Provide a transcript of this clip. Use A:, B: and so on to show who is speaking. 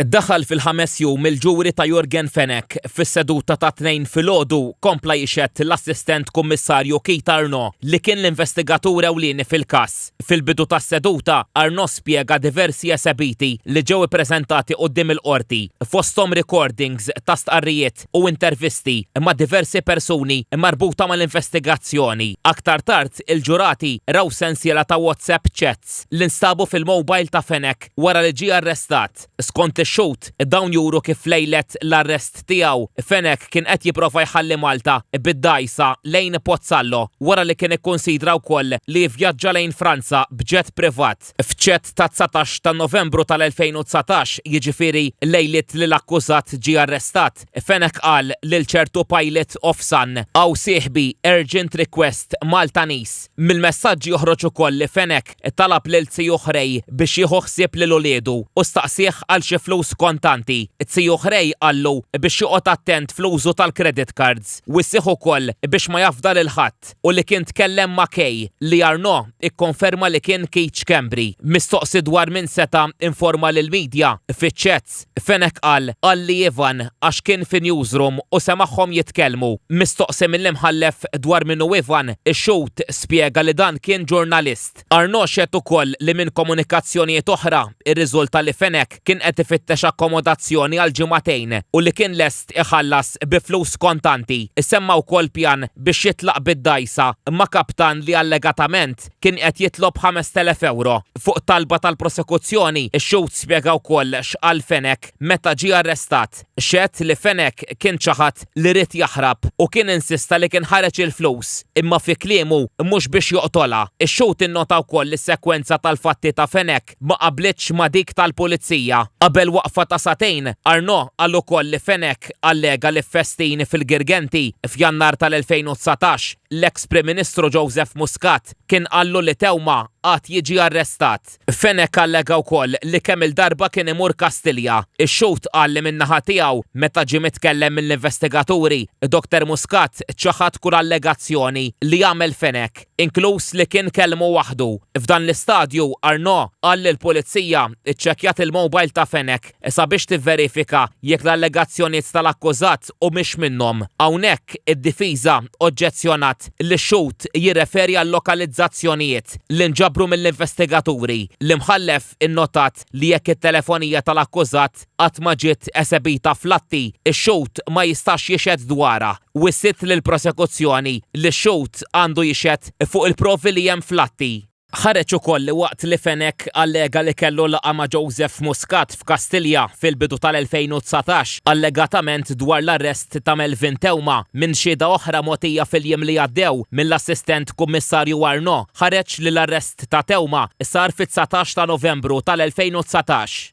A: Daħal fil-ħames jum il-ġuri ta' Yorgen Fenech. Fis-seduta tat-Tnejn filgħodu, kompla jixhed l-Assistent Kummissarju Keith Arnaud li kien l-investigatur ewlieni fil-każ. Fil-bidu tas-seduta, Arnaud spjega diversi esebiti li ġew ippreżentati quddiem il-Qorti, fosthom recordings ta' stqarrijiet tat-test u intervisti ma' diversi persuni marbuta mal-investigazzjoni. Aktar tard, il-ġurati raw sensiela ta' WhatsApp chats li nstabu fil-mobile ta' Fenech wara li ġie arrestat. Skont ix-xhud, dawn juru kif lejlet l-arrest tiegħu, Fenech kien qed jipprova jħalli Malta bid-dgħajsa lejn Pozzallo wara li kien ikkunsidra wkoll li jivvjaġġa lejn Franza b'jet privat. fil-fatt. F'chat ta' 19 ta' Novembru tal-2019, jiġifieri lejliet li l-akkużat ġie arrestat, Fenech qal lil ċertu Pilot of Sun, Hawn sieħbi, urgent request, Maltanees. Mill-messaġġ joħroġ ukoll li Fenech talab lil Tziju Ħrej biex jieħu ħsieb lil uliedu u staqsieh għal xi flus kontanti. Tziju Ħrej qallu biex joqgħod attent fl-użu tal-credit cards u issieħ ukoll biex ma jafda lil ħadd. u li kien tkellem ma' Kay, li Arnaud ikkonferma li kien Keith Schembri. Mistoqsi dwar min seta' informa lill-media fiċ-chats, Fenech qal għalli Ivan għax kien fi newsroom u semagħhom jitkellmu. Mistoqsi mill-Imħallef dwar min hu Ivan, ix-xhud spjega li dan kien ġurnalist. Fenech. Arnaud xehed ukoll li minn komunikazzjonijiet oħra rriżulta li Fenech kien qed ifittex akkomodazzjoni għal ġimagħtejn u li kien lest iħallas bi flus kontanti. Issemma wkoll pjan biex jitlaq bid-dgħajsa ma' kaptan li allegatament kien qed jitlob 5,000 ewro. Fuq talba tal-prosekuzzjoni, ix-xhud spjega wkoll x'qal Fenech meta ġie arrestat. Xehed li Fenech kien ċaħad li ried jaħrab u kien insista li kien ħareġ il-flus, imma fi kliemu, mhux biex joqtolha. Ix-xhud innota wkoll li s-sekwenza tal-fatti ta' Fenech ma qablitx ma' dik tal-Pulizija. Qabel waqfa ta' sagħtejn, Arnaud qal ukoll li Fenech allega li f'festin fil-Girgenti, f'Jannar tal-2019, l-eks Prim Ministru Joseph Muscat kien qallu li Theuma għad jiġi arrestat. Fenech allega wkoll li kemm-il darba kien imur Kastilja. Ix-xhud qal li min-naħa tiegħu, meta ġie mitkellem mill-investigaturi, Dr. Muscat ċaħad kull allegazzjoni li għamel Fenech, inkluż li kien kellmu waħdu. F'dan l-istadju, Arnaud qal li l-Pulizija ċċekkjat il-mowbajl ta' Fenech. Sabiex tivverifika jekk l-allegazzjoniet tal-akkużat humiex minnhom. Hawnhekk, id-difiża oġġezzjonat li x-xhud jirreferi għal-lokalizzazzjonijiet li nġabru mill-investigaturi. L-Imħallef innotat li jekk it-telefonija tal-akkużat qatt ma ġiet esebita fl-atti, ix-xhud ma jistax jixhed dwarha. Wissiet lill-Prosekuzzjoni li x-xhud għandu jixhed fuq il-provi li hemm fl-atti. Ħareġ ukoll li waqt li Fenech allega li kellu laqgħa ma' Joseph Muscat f'Kastilja fil-bidu tal-2019 allegatament dwar l-arrest ta' Melvin Theuma minn xhieda oħra mogħtija fil-jiem li għaddew mill-Assistent Kummissarju Arnaud ħareġ li l-arrest ta' Theuma sar fit-dsatax ta' Novembru tal-2019.